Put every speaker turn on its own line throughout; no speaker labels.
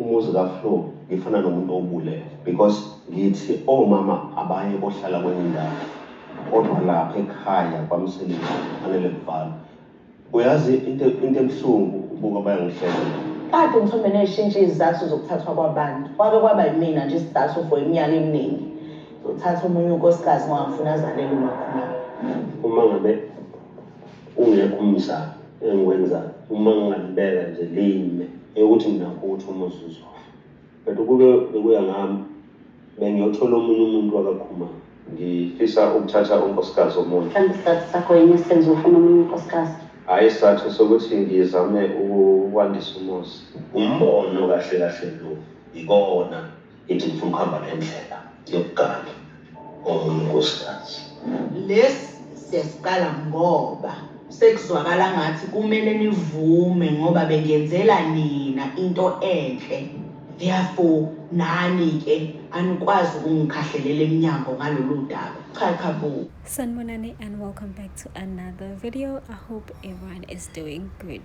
Umuzi ka Flo ngifuna nomuntu owubulele because ngithi omama abaye bohlala kwenye indawo kodwa lapha ekhaya kwamsebenzi kufanele kuvalwe. Uyazi into into ebuhlungu ubuka bayangihlela. Kade ngithombe
neshintsha izizathu zokuthathwa kwabantu. Kwake kwaba yimina nje isizathu for iminyaka eminingi. Zothatha omunye unkosikazi ngangifuna azalele umakhulu. Uma ngabe
Ungekho umzamo engiwenzayo uma ngingalibeka nje lime eyokuthi mina kuthi umuzi uzofa. But ukube bekuya ngami bengiyothola omunye umuntu wakaKhumalo. Ngifisa ukuthatha unkosikazi omunye. Mhlawumbe isizathu sakho yini
esenza ufune omunye unkosikazi? Hhayi isizathu
sokuthi ngizame ukuwandisa umuzi. Umbono kahle kahle lo yikona. Ithi ngifuna ukuhamba ngendlela yokugana omunye
unkosikazi. Lesi siyasiqala ngoba sekuzwakala ngathi kumele nivume ngoba bengenzela nina into enhle therefore nani-ke anikwazi ukungikhahlelela emnyango ngalolu daba cha cha bo sanibonani
and welcome back to another video i hope everyone is doing good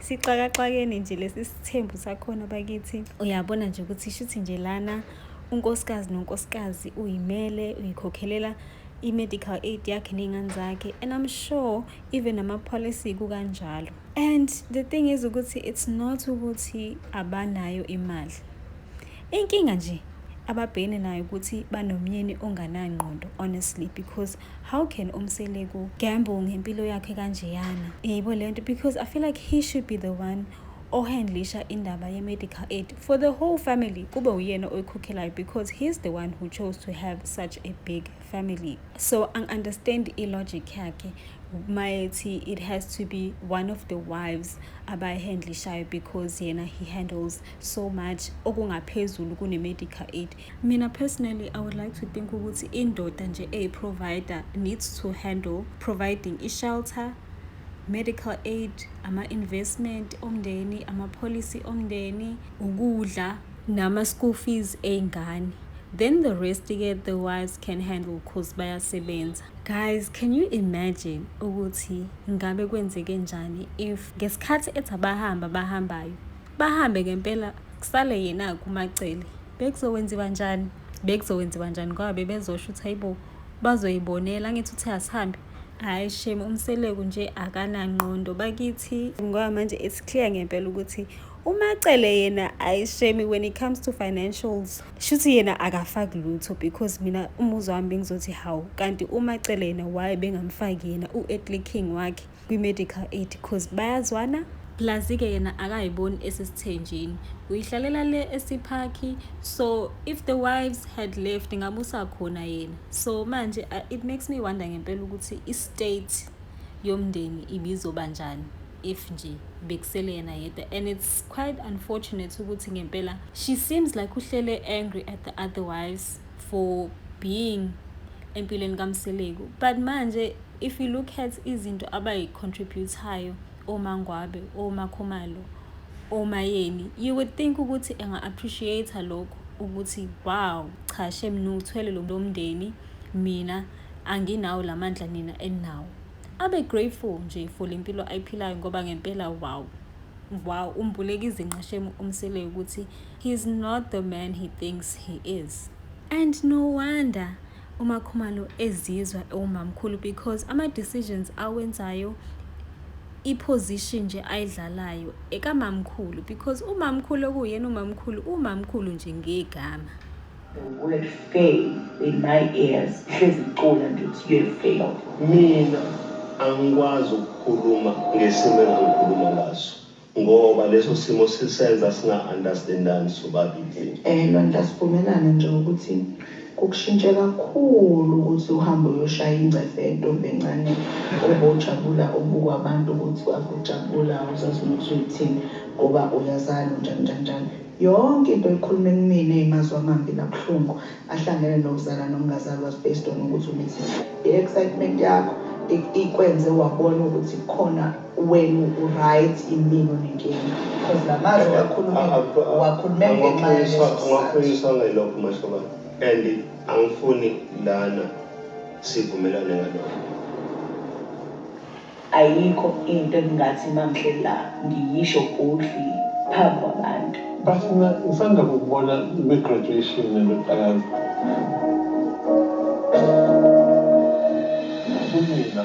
sixakaxakeni nje lesi sithembu sakhona bakithi uyabona nje ukuthi shuthi nje lana unkosikazi nonkosikazi uyimele uyikhokhelela i-medical aid yakhe ney'ngane zakhe and i'm sure even ama-policy kukanjalo and the thing is ukuthi it's not ukuthi abanayo imali Inkinga nje ababhekene nayo ukuthi banomyeni onganangqondo honestly because how can umseleku gamble ngempilo yakhe kanjeyana yibo le nto because i feel like he should be the one ohandlisha indaba ye-medical aid for the whole family kube uyena oyikhokhelayo because he's the one who chose to have such a big family so angi-understand i-logic yakhe mayethi it has to be one of the wives abayihandlishayo because yena he handles yeah, so much okungaphezulu kune-medical aid mina personally i would like to think ukuthi indoda nje eyi-provider needs to handle providing i-shelter medical aid ama-investment omndeni ama-policy omndeni ukudla nama-school fees ey'ngane then the rest ke the wives can handle cause bayasebenza guys can you imagine ukuthi ngabe kwenzeke njani if ngesikhathi ethi abahamba bahambayo bahambe ngempela kusale yena kumacele bekuzokwenziwa njani bekuzokwenziwa njani ngoba bebezosho ukuthi hayibo bazoyibonela angithi uthi asihambe hhayi shame umseleku nje akanangqondo bakithi ngoba manje it's clear ngempela ukuthi umacele yena ayi shame when it comes to financials shuthi yena akafaki lutho because mina umuzwa wami bengizothi hawu kanti umacele yena why bengamfaki yena u-etliking wakhe kwi-medical aid because bayazwana plus-ke yena akayiboni esesithenjini uyihlalela le esiphakhi so if the wives had left ngabe usakhona yena so manje uh, it makes me wonder ngempela ukuthi i-state yomndeni ibizoba njani if nje bekusele yena yedwa and it's quite unfortunate ukuthi ngempela she seems like uhlele angry at the other wives for being empilweni kamseleku but manje If you look at izinto abayi-contribute-ayo oMangwabe, oMakhumalo, oMayeni, you would think ukuthi enga-appreciate-a lokho ukuthi wow, cha shem niwuthwele lo mndeni mina anginawo la mandla nina eninawo. Abe grateful nje for le mpilo ayiphilayo ngoba ngempela wow wow umbuleka izinqa shem umseleyo ukuthi he's not the man he thinks he is. And no wonder uMakhumalo ezizwa ewumamkhulu because ama-decisions awenzayo i-position nje ayidlalayo ekamamkhulu because umamkhulu okuyena umamkhulu umamkhulu nje ngegama word
fail in my ears hlezi ngicula nje ukuthi
you
failed mina angikwazi ukukhuluma
ngesimo engangikhuluma ngaso Ngoba leso simo sisenza singa understandani sobabili. Eh Lwandla sivumelane
nje ukuthi kukushintshe kakhulu ukuthi uhambe uyoshaya ingcefe yentombi encane obojabula ubuka abantu ukuthi abojabula awuzazi ukuthi uyithini ngoba uyazalo njani njani njani. Yonke into oyikhuluma ekumina eyimazwi amambi nabuhlungu ahlangene nokuzala nokungazali was based on ukuthi umithi. I excitement yakho ikwenze wabona ukuthi kukhona. Wenu u right imini unenkinga because lamazwi owakhulumile uwakhulume ngenxa yaleso Amaphoyisa
angelokhu mahlobana and angifuni lana sivumelane ngalokho.
Ayikho into engingathi mamhle la ngiyisho boldly phambi kwabantu. But mina ngisanda
kukubona kwi graduation nendodakazi. Kunina.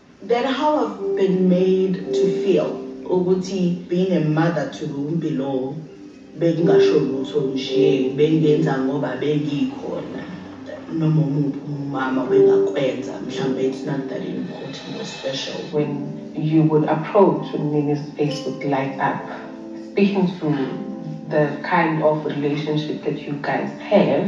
That how I've been made to feel ukuthi being a mother to Rumpi lo bekungasho lutho nje bengenza ngoba bengikhona noma umuphi umama bengakwenza mhlawumbe it's not that important or special when you
would approach umnini's face would light up speaking to the kind of relationship that you guys have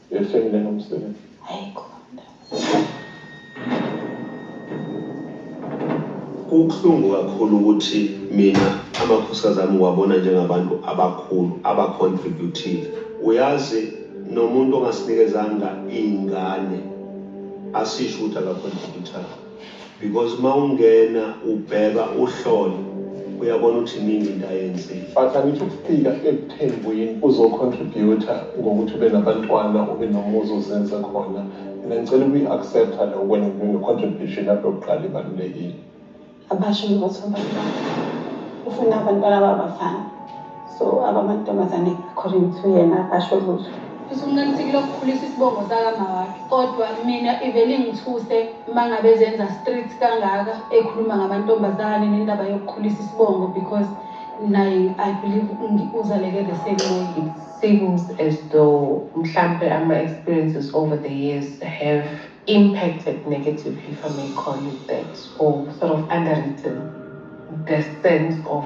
Uyohleli lena umsebenzi.
Hayi khona. Kubuhlungu kakhulu ukuthi mina amakhosikazi ami ngiwabona njengabantu abakhulu abacontributile. Uyazi nomuntu ongasinikezanga iy'ngane asisho ukuthi akacontributanga. because uma ungena ubheka uhlole uyabona ukuthi iningi into ayenzile but angithi ukufika
ekuthembweni uzocontributa ngokuthi ube nabantwana ube nomuzi ozenze khona mina ngicela ukuyi-accepta lo wena nginecontribution lapho yokuqala ibalulekile abasho
ngothi abantwana ufuna abantwana babafana so abamantombazane according to yena asho lutho futhi umnanisikile
okukhulisa isibongo sakamawakhe kodwa mina ivele ingithuse uma ngabe zenza street kangaka ekhuluma ngamantombazane nendaba yokukhulisa isibongo because naye i believe uzaleke the same way it seems
as though mhlampe ama-experiences over the years have impacted negatively if i may call it that or sort of underwritten the sense of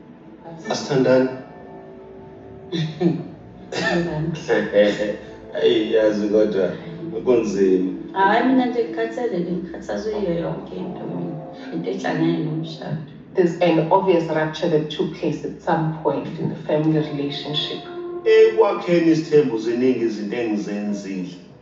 Asithandani.
Ayi yazi kodwa kunzima. Hayi mina nje
ngikhathele ngikhathazwe yiyo yonke into mina. Into ehlangene nomshado. There's an
obvious rupture that took place at some point in the family relationship. Ekwakheni
isithembu ziningi izinto engizenzile.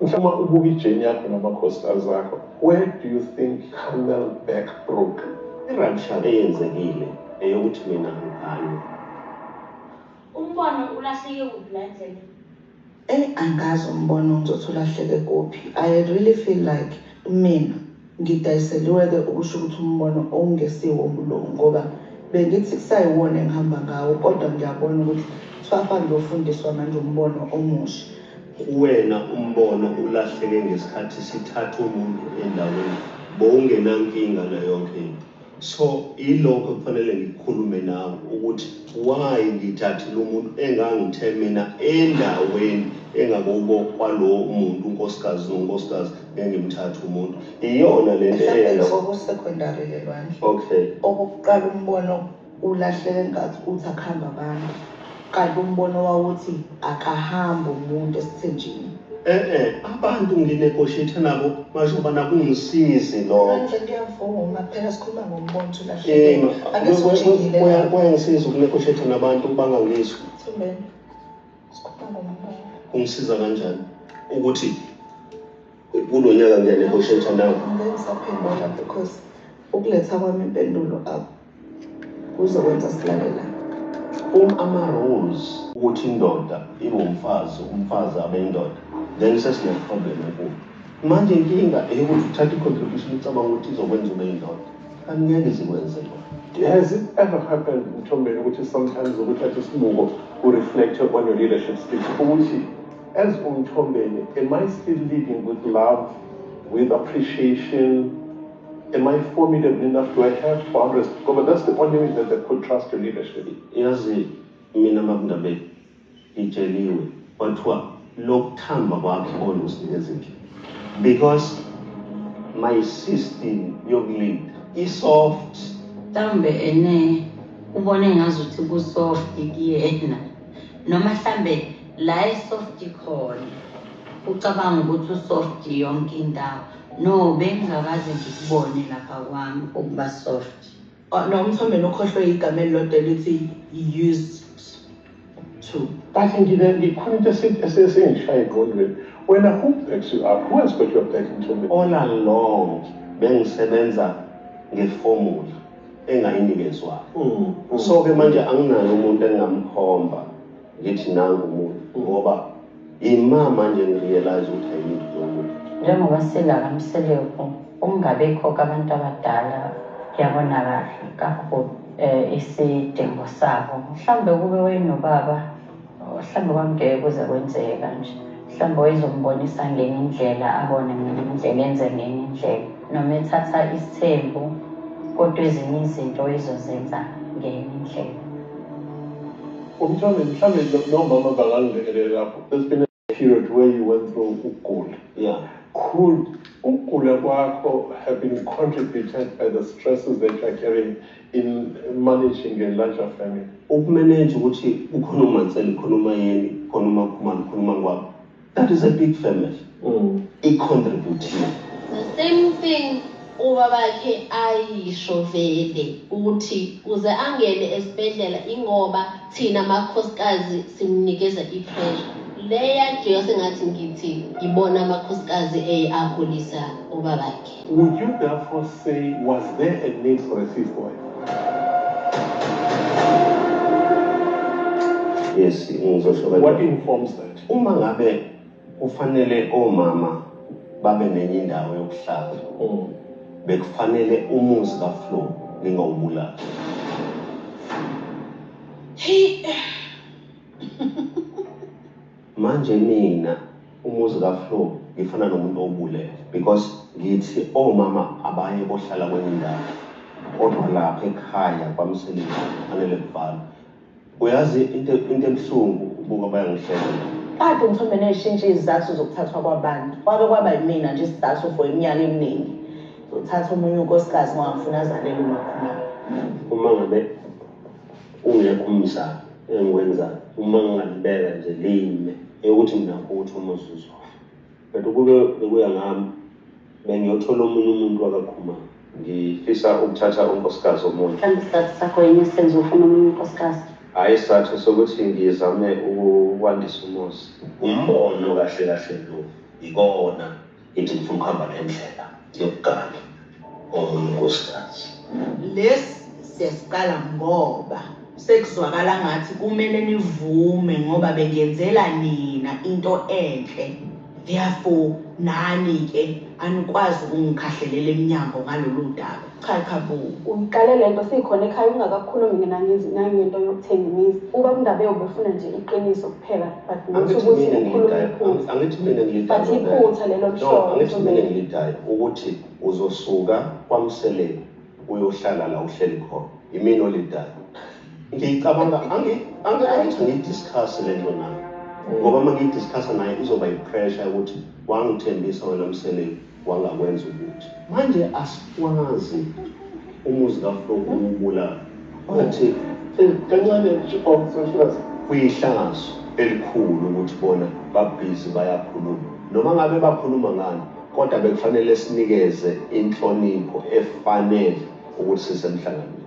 Mfuma ubuka ijeni yakho namakhosikazi akho where do you think Camel back broke? I-rupture
eyenzekile eyokuthi mina ngigane. Umbono ulahleke kuphi la
endleleni? Ey angazi umbono
ngizothi ulahleke kuphi I really feel like mina. Ngidayiseliweke ukusho ukuthi umbono owungesiwo umlungu ngoba bengithi kusayiwona engihamba ngawo kodwa ngiyabona ukuthi Thwafa ngiyofundiswa manje umbono omusha. Kuwena
umbono ulahleke ngesikhathi sithatha umuntu endaweni bowungenankinga nayonkhe into. So ilokho kufanele ngikhulume nawe ukuthi why ngithathile umuntu engangithe mina endaweni engakubo kwalo muntu unkosikazi nonkosikazi ngengimthatha umuntu iyona le nto Mhlawumbe eyenza lokho kusecondary ke
lwandle. okay
Okokuqala umbono
ulahleke nkathi uthi akuhambe abantu. Kanti umbono wawuthi akahambe umuntu esithenjini. E-e abantu
nginegotiate nabo majoba nakungisizi lokho. Andle ngiyavuma phela
sikhuluma ngombono ukuthi ulahlekile. Ake sijikile Kuya- lapho. Kuyangisiza
ukunegotiate nabantu bangangizwa. Thumbeni. Sikhuluma
ngombono. Kungisiza kanjani
ukuthi kulo nyaka ngiyanegotiate nabo? Ngeke ngisaphendula
because ukuletha kwami impendulo akho. Kuzokwenza silalela um ama-rules
ukuthi indoda ingumfazi umfazi abe indoda then sesine-problem enkulu manje inkinga eyokuthi uthatha i-contribution ucabanga ukuthi izokwenza ube indoda kanti ngeke zikwenze lo Has it ever
happened Mthombeni ukuthi sometimes ukuthatha isibuko u-reflect on your leadership skills ukuthi as uMthombeni am I still leading with love with appreciation Am I forming a nina do I have boundaries ngoba that's the only way that they could trust your leadership yazi
mina babndabeni ngitsheliwe kwathiwa lokuthamba kwakhe kona usinikeza indlela because my system yokulinda i-soft mhlawumbe
ene ubone ngazuthi ku-soft kuyena noma mhlawumbe la i-soft khona ucabanga ukuthi u-soft yonke indawo No bengingakaze ngikubone lapha kwami ukuba soft. Oh, no umthombeni
ukhohlwe igama elilodwa elithi used to. Kanti ngike
ngikhona into esingishaya egqondweni. Wena who backs you up? Who has got your back mthombeni? All along
bengisebenza ngeformula engayinikezwayo. Mm, mm. So ke manje anginayo umuntu engingamkhomba. ngithi nangu umuntu ngoba ima manje ngirealize ukuthi ayinto yomuntu njengoba silala
mseleku ukungabikho kabantu abadala kuyabona kahle kakhulu um isidingo sabo mhlawumbe kube wayenobaba mhlawumbe kwangeke kuze kwenzeke kanje mhlawumbe wayezombonisa ngenye indlela abone ngenye indlela enze ngenye indlela noma ethatha isithembu kodwa ezinye izinto ezozenza ngenye indlela Umthameli
mhlambe nomama bangangilekelela lapho there's been a period where you went through ukugula yeah
could
ukugula kwakho have been contributed by the stresses that you are carrying in managing a larger family ukumanage ukuthi
kukhona umanseli khona umayeni khona umakhumalo khona umangwabo That is a big family. Mm. I contribute. The same
thing ubabakhe ayisho vele ukuthi uze angene esibhedlela ingoba thina amakhosikazi simnikeza i-pressure le yakhe yase ngathi ngithi ngibona amakhosikazi eye akhulisa ubabakhe would you therefore
say was there a need for a fifth wife yes ngizosho
what
informs that Uma ngabe
kufanele omama babe nenye indawo yokuhlala mm. bekufanele umuzi kaFlo ningawubulali. Hey. Manje mina umuzi kaFlo ngifana nomuntu obulele because ngithi omama abaye bohlala kwenye indawo kodwa lapha ekhaya kwamsebenzi kufanele kuvalwe Uyazi into into ebuhlungu ubuka bayangihlela. Kade umthombe
neshintsha izizathu zokuthathwa kwabantu. Kwake kwaba yimina nje isizathu for iminyaka eminingi. Zothatha omunye unkosikazi ngawafuna azalele umakhona. Uma ngabe
ungekho umzamo engiwenzayo uma ngingalibeka nje lime eyokuthi mina ukuthi uma uzuzwa. But ukube bekuya ngami bengiyothola omunye umuntu wakaKhumalo. Ngifisa ukuthatha unkosikazi omunye. Mhlawumbe isizathu sakho yini
esenza ufune omunye unkosikazi? Hhayi isizathu
sokuthi ngizame ukwandisa umuzi. Umbono kahle kahle lo, yikona ngithi ngifuna ukuhamba nendlela yokugangi. Omunye unkosikazi. Lesi
siyasiqala ngoba sekuzwakala ngathi kumele nivume ngoba bengenzela nina into enhle therefore nani ke anikwazi ukungikhahlelela emnyango ngalolu daba cha cha bo uyiqale le nto
sikhona ekhaya ungakakhulumi mina ngizwi nangento yokuthenga imizi uba kundaba yobefuna nje iqiniso kuphela angithi mina ngilidayo
angithi mina ngilidayo iphutha lelo
mhlobo angithi mina ngilidayo
ukuthi uzosuka kwamseleni uyohlala la uhleli khona imina olidayo ngiyicabanga angithi ngiyidiscuss le nto nayo ngoba uma ngiyidiscussa naye izoba yipressure yokuthi wangithembisa wena mseleni wangakwenza ukuthi. Manje asikwazi umuzi kaFlo kuwubulala. Wathi kancane
nje oh sashulaza. Kuyihlazo
elikhulu ukuthi bona babhizi bayakhuluma. Noma ngabe bakhuluma ngani kodwa bekufanele sinikeze inhlonipho efanele ukuthi sisemhlanganweni.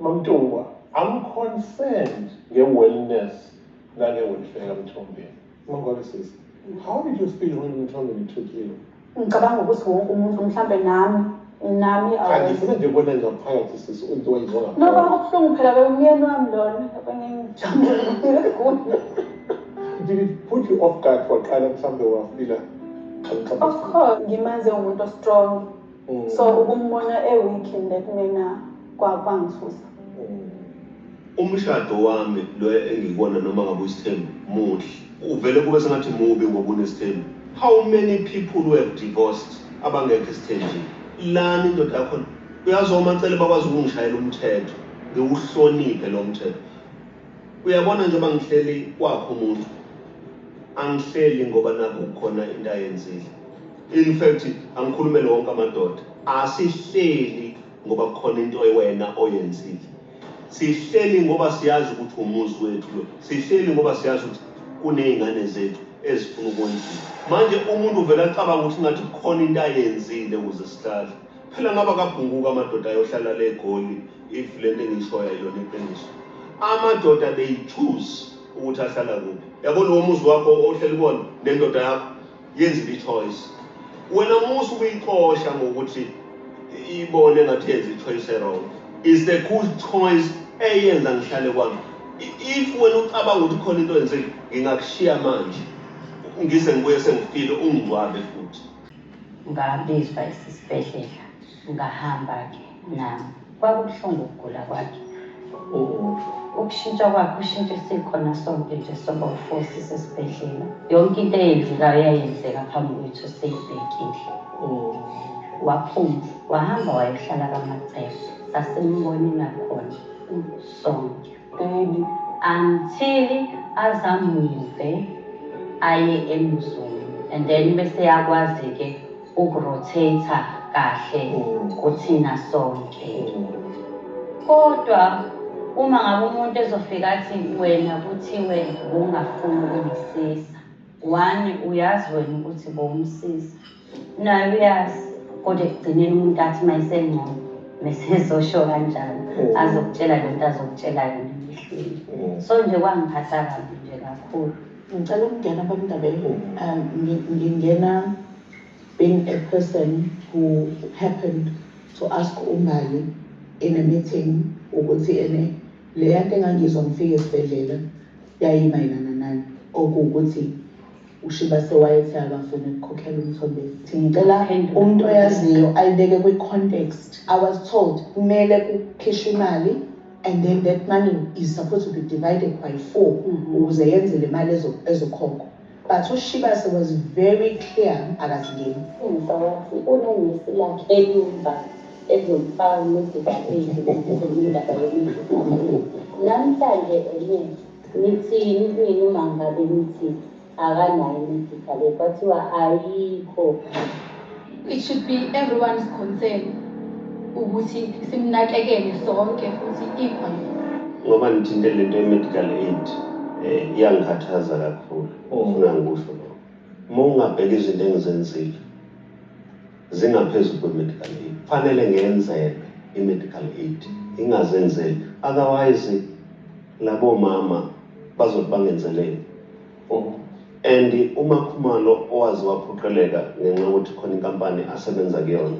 Mamtungwa, I'm concerned nge-wellness nange-welfare kaMthombeni. Mangwabe sisi, how did you feel when Mthombeni took you? Ngicabanga ukuthi
wonke umuntu mhlampe nami nami angifuna nje
kubona ngaphakathi sisi umuntu wayizona. No, kwakubuhlungu phela
bewumyeni wami lona ebengingijabule
kakhulu. Did it put you off guard for qala mhlambe wafila? Of
course, ngimenze umuntu ostrong. Mm. So ukumbona
e week nekungena kwa kwangisusa. Mm. Umshado wami lo engikona noma ngabe usithembu muhle. Uvele kube sengathi mubi ngoba unesithembu. How many people who have divorced abangekho esithenjini? Lani indoda yakho uyazi omacele bakwazi ukungishayela umthetho ngiwuhloniphe lo mthetho uyabona njengoba ngihleli kwakho umuntu angihleli ngoba nakho kukhona into ayenzile In fact angikhulumele wonke amadoda asihleli ngoba kukhona into ewena oyenzile sihleli ngoba siyazi ukuthi umuzi wethu lo sihleli ngoba siyazi ukuthi kuney'ngane zethu ezifuna ukwenziwa manje umuntu uvele acabanga ukuthi ngathi kukhona into ayenzile ukuze sihlale phela ngaba kabhunguka amadoda ayohlala le goli if le nto engishoyo ayona iqiniso amadoda they choose ukuthi ahlala kuphi yabona womuzi wakho ohleli kuwona nendoda yakho Yenzile ichoice. Wena musa ukuyixosha ngokuthi ibone ngathi yenza ichoice erong. Is the cool choice eyenza ngihlale kwami. If wena ucabanga ukuthi khona into yenzile, ngingakushiya manje. Ngize ngibuye sengifile ungigwabe futhi. Ngabizwa
esisibhedlela. Ngahamba ke nami. Kwakubuhlungu ukugula kwakhe. Ukushintsha kwakhe ushintshe sikhona sonke nje soba ufosi sesibhedlela. Yonke into eyenzekayo yayenzeka phambi kwethu seyibhekile. Waphuma wahamba wayohlala kaMacebo. Sasimbona nakhona sonke. Baby until azamuve aye emzulu and then bese yakwazi ke ukurotate kahle kuthina sonke kodwa uma ngabe umuntu ezofika athi wena kuthiwe bungafuni ukumsiza wani uyazi wena ukuthi bowumsiza nayo uyazi kodwa ekugcineni umuntu athi uma esengcono mesezosho kanjalo mm. azokutshela le nto azokutshela yona emehlweni mm. so nje kwangiphatha kabi nje kakhulu ngicela ukungena
kwamndabeni mm. um, ngingena being a person who happened to ask umbali in a meeting ukuthi ene leya nto engangizwa ngifike esibhedlela yayimayelana nani okuwukuthi UShibase wayethi akafuni ukukhokhela uMthombeni. Ngicela umuntu oyaziyo ayibeke kwi-context. I was told kumele kukhishwe imali and then that money is supposed to be divided by four mm-hmm. ukuze yenze le mali ezokhokhwa but ushibase was very clear akazingeni umfawathi
unengisi lakhe elumba ezomfaka nezibabili ezomindaba yomindlu namhlanje enye Nithini mina uma ngabe nithi akanayo imedical aid kwathiwa ayikho.
It should be everyone's concern ukuthi simnakekele sonke futhi equally. Ngoba nithinte
lento ye-medical aid um iyangikhathaza kakhulu ofuna ngikusho lokho. Uma ungabheka izinto engizenzile zingaphezu kwe-medical aid kufanele ngenzelwe i-medical aid ingazenzeli otherwise labo mama bazothi bangenzeleni oh. and uma khumalo owazi waphoqeleka ngenxa yokuthi khona inkampani asebenza kuyona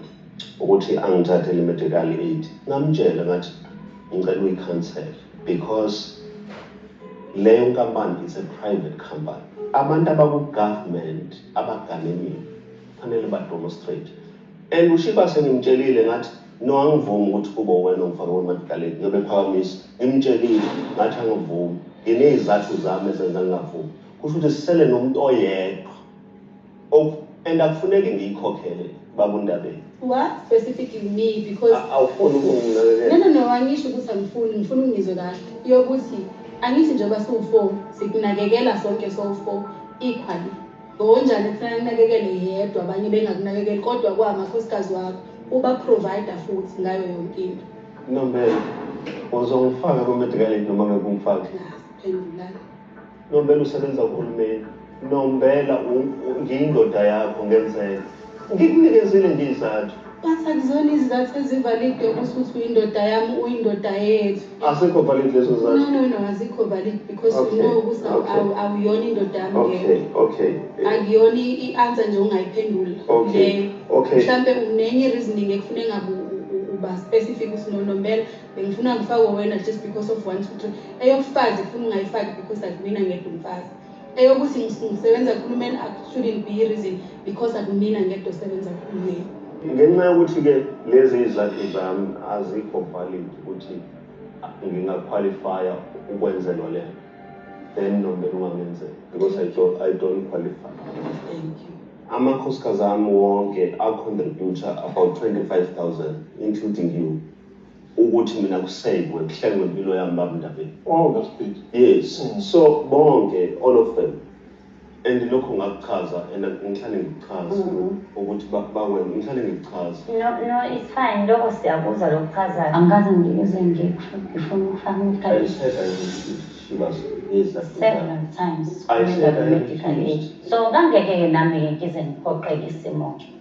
ukuthi angithathe le-medical aid ngamtshela ngathi ngicela uyi-cancel because leyo nkampani is a private company abantu abaku-government abaganemiwe Kufanele ba demonstrate. And uShiba sengimtshelile ngathi no angivumi ukuthi kube wena ongifake kwemadikaleni ngiyobe phakamisa ngimtshelile ngathi angivumi nginezizathu zami ezenza ngingavumi kusho ukuthi sisele nomuntu oyedwa and akufuneki ngiyikhokhele babundabeni what specific
you need because awufuni ukunginakekela
no no no angisho ukuthi
angifuni ngifuna ungizwe kahle yokuthi angithi njengoba siwu-four sikunakekela sonke sowu-four equally Ngokunjani kufanele kunakekelwe yedwa abanye bengakunakekeli kodwa kwamakhosikazi wakho ubaprovider futhi ngayo yonke into Nombela,
uzongifaka kwi-medical aid noma ngeke ungifake? phendulana
Nombela
usebenza kuhulumeni. Nombela u- u- ngiyindoda yakho ngenzeka. Ngikunikezile nje izizathu. But akuzona
izizathu ezivalide ukuthi uthi uyindoda yami uyindoda yethu. Asikho valid
lezo No, zathu. no, no, azikho valid
because Okay, you know ukuthi awu- okay. awu- awuyona indoda yami leyo. Okay, okay. Eh,
akuyona i-
i-answer nje ongayiphendula Okay, leyo
okay. mhlawumbe
unenye reasoning ekufuna engabe u- u- uba specific ukuthi no nombela bengifuna ngifakwe wena just because of one two three eyokufazi kufuna ungayifaki because akuyimina ngedwa umfazi eyokuthi ngisebenza kuhulumeni
shouldn't be reason because akumina ngedwa osebenza kuhulumeni ngenxa yokuthi-ke lezi izakhi zami azikho valid ukuthi ngingaqualifya ukwenzelwa le then nombeni ungangenzela because I don't, I don't qualify Thank you.
amakhosikazi ami
wonke acontributor about 25 000 including you ukuthi mina ku save kuhlengwe impilo yami baba Ndabeni oh that's big
yes mm. so
bonke all of them and lokho ngakuchaza and ngihlale ngikuchaza mm-hmm. ukuthi bakwena ngihlale ngikuchaza no no it's fine
lokho siyakuzwa lokuchazayo angikaze ngiyizwe nje ngifuna ukufaka several
times
medical
aid so
kangeke-ke nami-ke ngize ngiphoqeke isimo-ke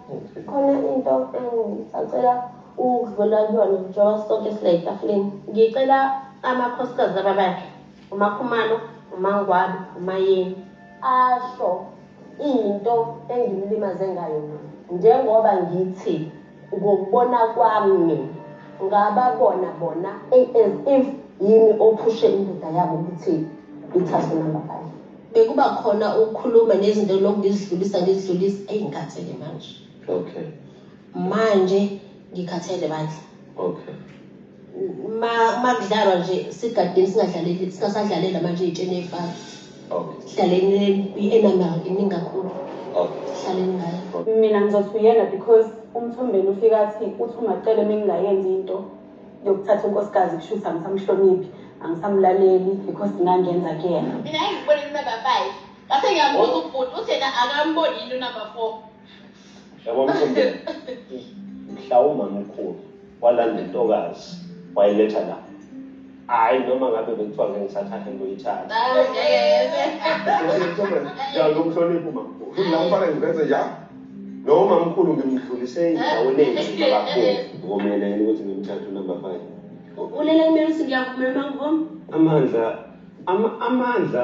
Khona into engisacela ukudlula kuyona njengoba sonke sila etafuleni. Ngicela amakhosikazi laba bakhe, uMakhumalo, uMangwabi, uMayeni, asho into engimlimaze ngayo mina. Njengoba ngithi ngokubona kwami mina, ngababona bona as if yimi ophushe indoda yabo ukuthi ithathwe number five. bekuba khona ukukhuluma nezinto lokhu ngizidlulisa ngizidlulisa eyi ngikhathele manje
okay manje
ngikhathele bandla
okay ma
makudlalwa nje sigadini singadlaleli singasadlalela manje itsheni efaka okay
dlaleni
i-enamel iningi kakhulu okay dlaleni
ngayo
mina ngizosuyena
because umthombeni ufika athi uthi ungacele mengingayenzi into yokuthatha unkosikazi kusho ukuthi angisamhloniphi angisamlaleli yikho singangenza kuyena mina engibone kunumber
five ngase ngiyambuza oh. ubhuti uthi yena akamboni yini unumber four yabo
mthombeni mhlawumbe mkhulu walanda intokazi wayiletha la hayi noma ngabe bekuthiwa ngeke ngisathathe ngiyoyithatha ngiyakumhlonipha umamkhulu la umfana ngiveze njalo
noma mkhulu
ngimdlulise endaweni enjini kakhulu ngomele yini ukuthi ngimthathe unumber five ulela kumele ukuthi
ngiyakumema ngom amandla ama,
amandla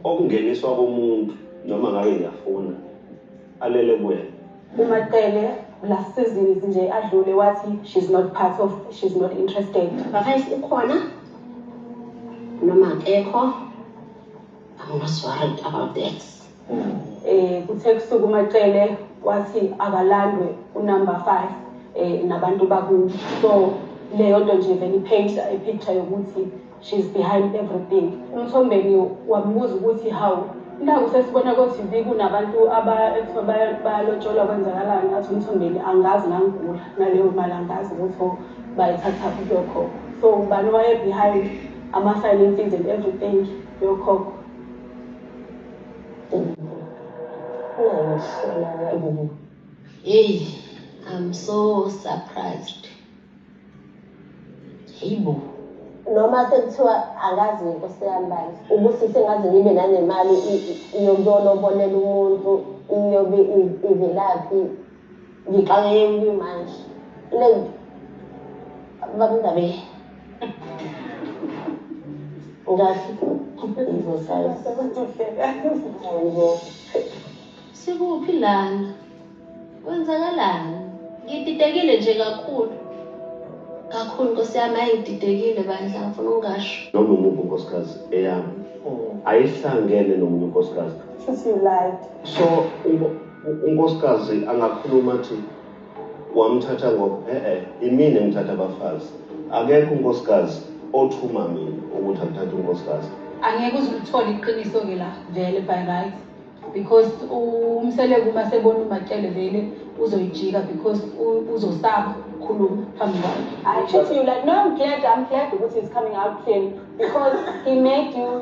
okungeniswa komuntu noma ngabe ngiyafuna alele kuwena umaqele
la seasons nje adlule wathi she's not part of she's not interested bafayisi ukhona
noma akekho i'm not worried about that Eh
kuthe kusukuma Cele wathi akalandwe unumber 5 eh nabantu bakubo. So leyo nto nje vele ipaint i picture yokuthi she's behind everything. Umthombeni wamubuza ukuthi how naku sesibona ko-TV kunabantu bayalotsholwa kwenzakalani athi umthombeni angazi ngangigula naleyo mali angazi ukuthi oh, bayithatha kuphi yokhokho so ubani waye-behind ama-finances and everything yokhokho Hey,
I'm so surprised. Hey bo. Noma
sekuthiwa akazi ngenkosi yami bandla. Ubusise ngaze ngibe nanemali iyobona obonela umuntu iyobe ivelaphi Ngiqale yini manje? Lento. Bakungabe. Ngathi
ngizosazi. Sikuphi lana? Kwenzakalani? Ngididekile nje kakhulu. Kakhulu Nkosi yami hayi ngididekile bandla ngifuna ungasho. Noma umuphi unkosikazi
eyami ayihlangene nomunye unkosikazi. Sisi you lied.
So
unkosikazi angakhuluma athi wamthatha ngoba e-e eh, imina engithatha abafazi akekho unkosikazi othuma mina ukuthi akuthathe unkosikazi angeke uze ulithole
iqiniso-ke la vele by right because umseleku uma sebona umakele vele uzoyijika because uzosaba ukukhuluma phambi kwakhe i treat you like no
i'm glad i'm glad ukuthi is coming out clean because he made you